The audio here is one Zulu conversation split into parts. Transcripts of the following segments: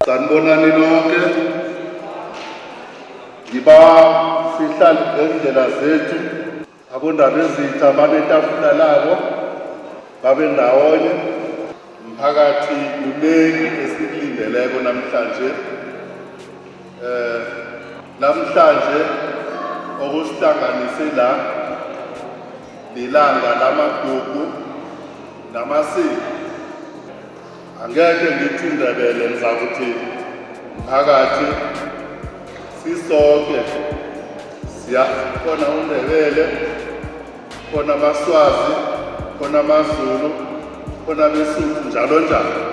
Sanibonani nonke. Ngiba sihlali ngendlela zethu abondaba ezitha banetafula labo babe ndawonye mphakathi kuningi esikulindeleko namhlanje eh namhlanje okusihlanganise la lilanga lamagugu namasiko Angeke ngithi indebele ngizakuthi mphakathi sisonke siyazi khona undebele khona amaswazi khona amazulu khona besuthu njalo njalo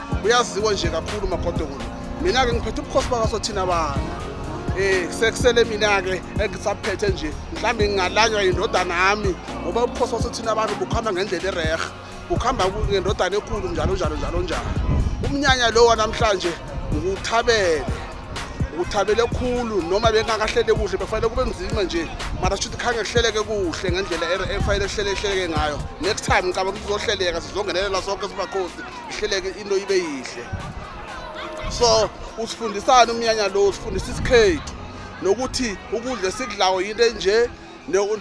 uyaziwa nje kakhulu umagodokulu mina-ke ngiphethe ubukhosi bakaso thina bana um sekusele mina-ke engisaphethe nje mhlawumbe ngingalanywa yindodana yami ngoba ubukhosi baso thina abantu bukuhamba ngendlela erehe bukuhamba ngendodana ekhulu njalo njalo njalo njalo umnyanya lo wanamhlanje nguthabele uthabele khulu noma bengakahlele kuhle bekufanele kube nzima nje mara shuthi khange kuhleleke kuhle ngendlela efanele kuhlele kuhleleke ngayo next time ngicaba kuzohleleka sizongenelela sonke sibakhosi ihleleke into ibe yihle so usifundisani umnyanya lo usifundisa isikhethu nokuthi ukudla esikudlayo yinto enje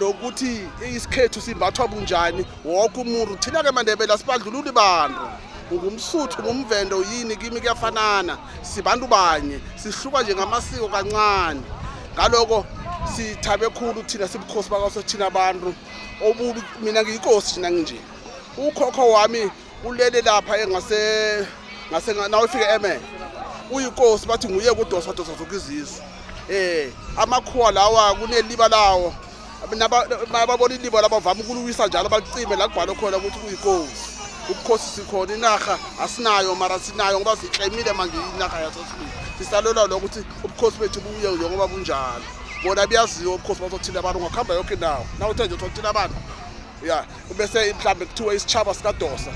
nokuthi isikhethu simbathwa bunjani wonke umuntu thina-ke mandebela sibadlululi bantu ngumsuthu ngumvende uyini kimi kuyafanana sibantu banye sihluka nje ngamasiko kancane ngaloko sithabe khulu thina sibukhosi bakaso thina abantu obubi mina ngiyikosi thina nginje ukhokho wami ulele lapha engase ngase nawe fike eme uyinkosi bathi nguye kudosa dosa zonke izizwe eh amakhuwa lawa kuneliba lawo nababona iliba labavama ukuluwisa njalo balicime la kubhalwe khona ukuthi kuyinkosi ubukhosi sikhona inarha asinayo mara sinayo ngoba sikleyimile manje inarha yasosibili sisalwelwa lo ukuthi ubukhosi bethu buye njengoba bunjalo bona buyaziwa ubukhosi bazothile abantu ungakuhamba yonke indawo nawuthe nje uthothile abantu ya ubese mhlambe kuthiwa isitshaba sikadosa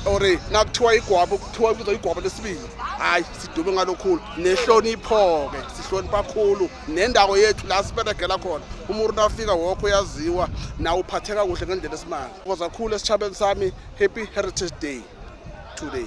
or nakuthiwa igwabo kuthiwa ibiza igwabo lesibili hayi sidume ngalokhulu nehlonipho-ke sihlonipha khulu nendawo yethu la siberegela khona umuntu nafika wokho uyaziwa nawe uphatheka kuhle ngendlela esimanga koza khulu esitshabeni sami happy heritage day today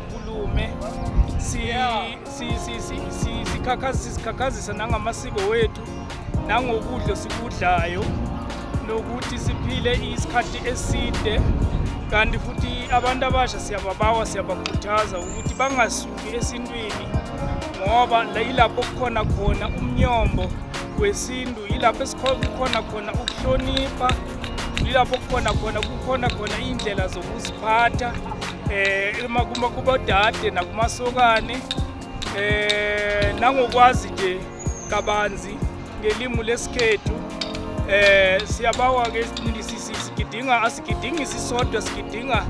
Kulume sikhakhazisa nangamasiko wethu nangokudla sikudlayo nokuthi siphile isikhathi eside kanti futhi abantu abasha siyababawa siyabakhuthaza ukuthi bangasuki esintwini ngoba yilapho kukhona khona umnyombo wesintu yilapho esikhona khona ukuhlonipha Ilapho kukhona khona kukhona khona iy'ndlela zokuziphatha um kubodade nakumasokane um nangokwazi nje kabanzi ngelimu lesikhethu eh siyabawa ke sigidinga asigidingi sisodwa sigidinga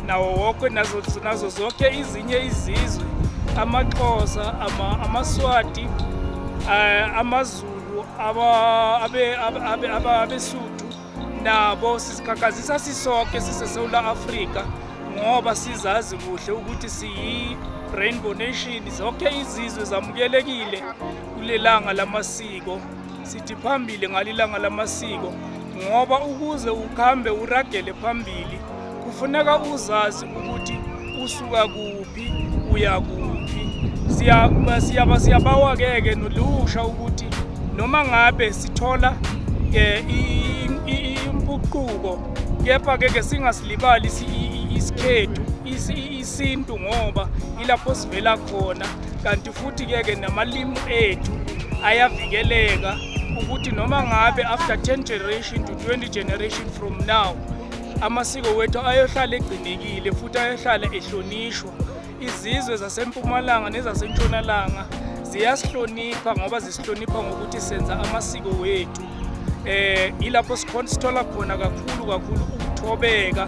nawo wonke nazo nazo zonke izinye izizwe amaXhosa ama amaswati eh, amazulu abesuthu nabo sizikhakhazisa sisonke sisesewula afrika ngoba sizazi kuhle ukuthi siyi-rainbow nation zonke izizwe zamukelekile kulelanga lamasiko sithi phambili ngalilanga lamasiko ngoba ukuze ukuhambe uragele phambili kufuneka uzazi ukuthi usuka kuphi uya kuphi siyaba siyabawa-ke-ke nolusha ukuthi noma ngabe sithola um impuquko kepha-ke ke singasilibali isikhethu isintu ngoba ilapho sivela khona kanti futhi-ke ke namalimu ethu ayavikeleka ukuthi noma ngabe after 10 generation to 20 generation from now amasiko wethu ayohlala egcinekile futhi ayohlala ehlonishwa izizwe zasempumalanga nezasentshonalanga ziyasihlonipha ngoba zisihlonipha ngokuthi senza amasiko wethu eh ilapho sikhona sithola khona kakhulu kakhulu ukuthobeka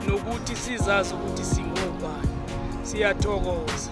nokuthi sizazi ukuthi singobani siyathokoza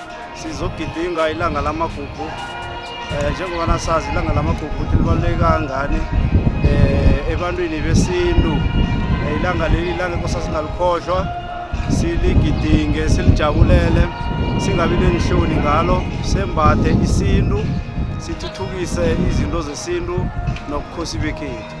sizogidinga ilanga lamagugu um njengoba nasazi ilanga lamagugu ukuthi libaluleke kangani um ebantwini besintu eh, ilanga leli ilanga inkosa singalikhohlwa siligidinge silijabulele singabi nenhloni ngalo sembathe isintu sithuthukise izinto zesintu nobukhosi bekhethu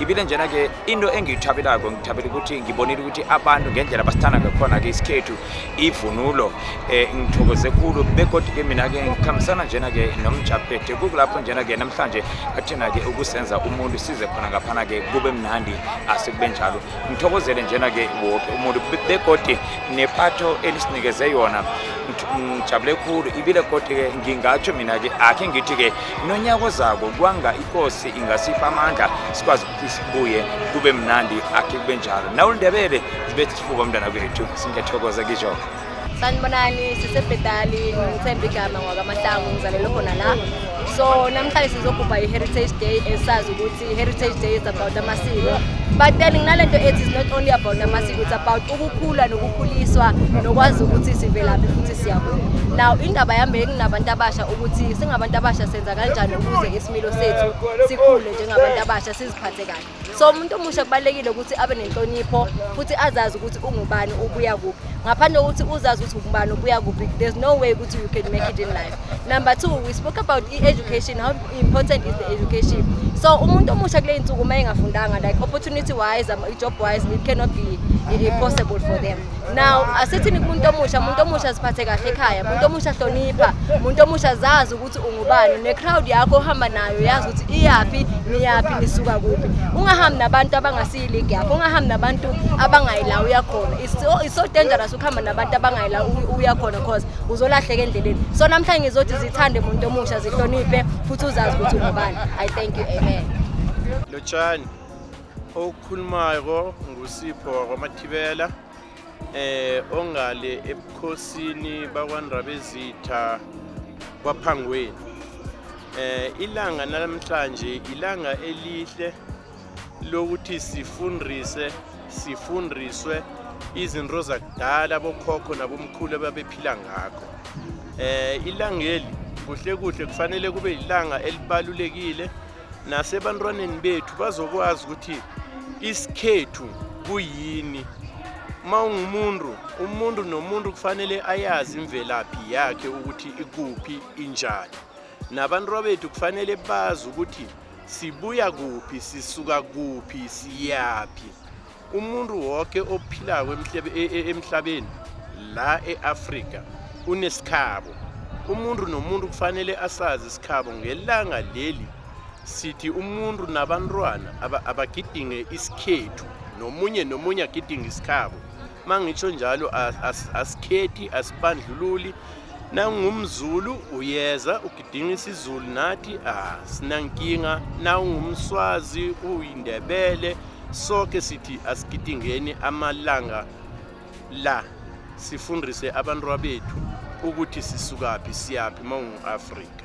ibile njena ke into engiyithabelako ngithabela ukuthi ngibonile ukuthi abantu ngendlela basithanda ngakhona-ke isikhethu ivunulo um ngithokoze khulu begodike mina-ke ngikhambisana njena-ke nomjaphethe kukulapho njena-ke namhlanje athena-ke ukusenza umuntu size khona ngaphana-ke kube mnandi asekube njalo ngithokozele njena-ke woke umuntu begodi nepatho elisinikeze yona ngijabule khulu ibile kodwa-ke ngingatsho mina-ke akhe ngithi-ke nonyaka ozako kwanga ikosi ingasipha amandla sikwazi ukuthi sibuye kube mnandi akhe kube njalo nawe ulindebele zibe sifuba umntwana kwethu singethokoza kisho sanibonani sisebhetali ngithemba igama ngwakamahlangu ngizalelwe khona la so namhlanje sizogubha i-heritage day esazi ukuthi Heritage Day is about amasiko but then nginalento ethi is not only about amasiko it's about ukukhula nokukhuliswa nokwazi ukuthi sivelaphi futhi siyakuphi now indaba yami enginabantu abasha ukuthi singabantu abasha senza kanjani ukuze isimilo sethu sikhule njengabantu abasha siziphathe kahle so umuntu omusha kubalekile ukuthi abe nenhlonipho futhi azazi ukuthi ungubani ubuya kuphi ngaphandle kokuthi uzazi ukuthi ungubani ubuya kuphi there's no way ukuthi you can make it in life number two we spoke about i-education how important is the education so umuntu omusha kule nsuku uma engafundanga like opportunity wise um, job wise it cannot be uh, possible for them now asithini kumuntu omusha umuntu omusha siphathe kahle ekhaya umuntu omusha hlonipha umuntu omusha zazi ukuthi ungubani ne-crowd yakho ohamba nayo yazi ukuthi iyaphi niyaphi nisuka kuphi ungahambi nabantu abangasiyiligi yakho ungahambi nabantu abangayilawo yakhona it's so, it's so dangerous ukuhamba nabantu abangayila uya khona cause uzolahleka endleleni so namhlanje ngizothi zithande muntu omusha zihloniphe futhi uzazi ukuthi ungubani i thank you amen lotshani okhulumayo ngusipho wakwamathibela eh ongale ebukhosini bakwandrabezitha kwaphangweni eh ilanga namhlanje ilanga elihle lokuthi sifundise sifundiswe izinto zakudala abokhokho nabomkhulu ababephila ngakho eh ilangeli kuhle kuhle kufanele kube ilanga elibalulekile nasebantwaneni bethu bazokwazi ukuthi isikhethu kuyini uma ungumuntu umuntu nomuntu kufanele ayazi imvelaphi yakhe ukuthi ikuphi injani nabantu bethu kufanele bazi ukuthi sibuya kuphi sisuka kuphi siyaphi umuntu wonke ophilako emhlebe- e- e- emhlabeni la e-afrika unesikhabo umuntu nomuntu kufanele asazi isikhabo ngelanga leli sithi umuntu nabantwana aba- abagidinge isikhethu nomunye nomunye agidinge isikhabo uma ngitsho njalo asikhethi asibandlululi nangumzulu uyeza ugidinga isizulu nathi asinankinga nawungumswazi uyindebele soke sithi asigidingeni amalanga la sifundise abantu bethu ukuthi sisukaphi siyaphi uma ungu-afrika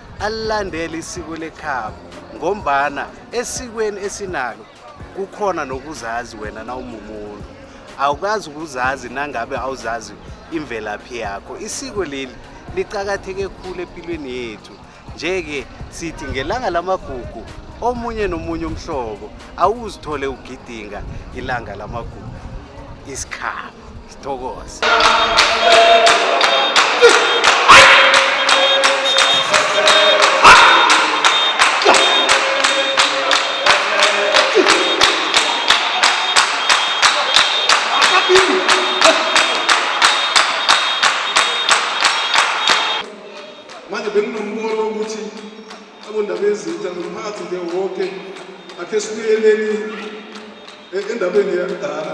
alandele isiko lekhabo ngombana esikweni esinalo kukhona nokuzazi wena nawumumuntu awukazi ukuzazi nangabe awuzazi imvelaphi yakho isiko leli licakatheke khulu empilweni yethu nje-ke sithi ngelanga lamagugu omunye nomunye umhlobo awuzithole ugidinga ilanga lamagugu isikhaba Thokoza. manje benginombono wokuthi abondaba ezintsha nomphakathi nje wonke akhe sibuyeleni endabeni yakudala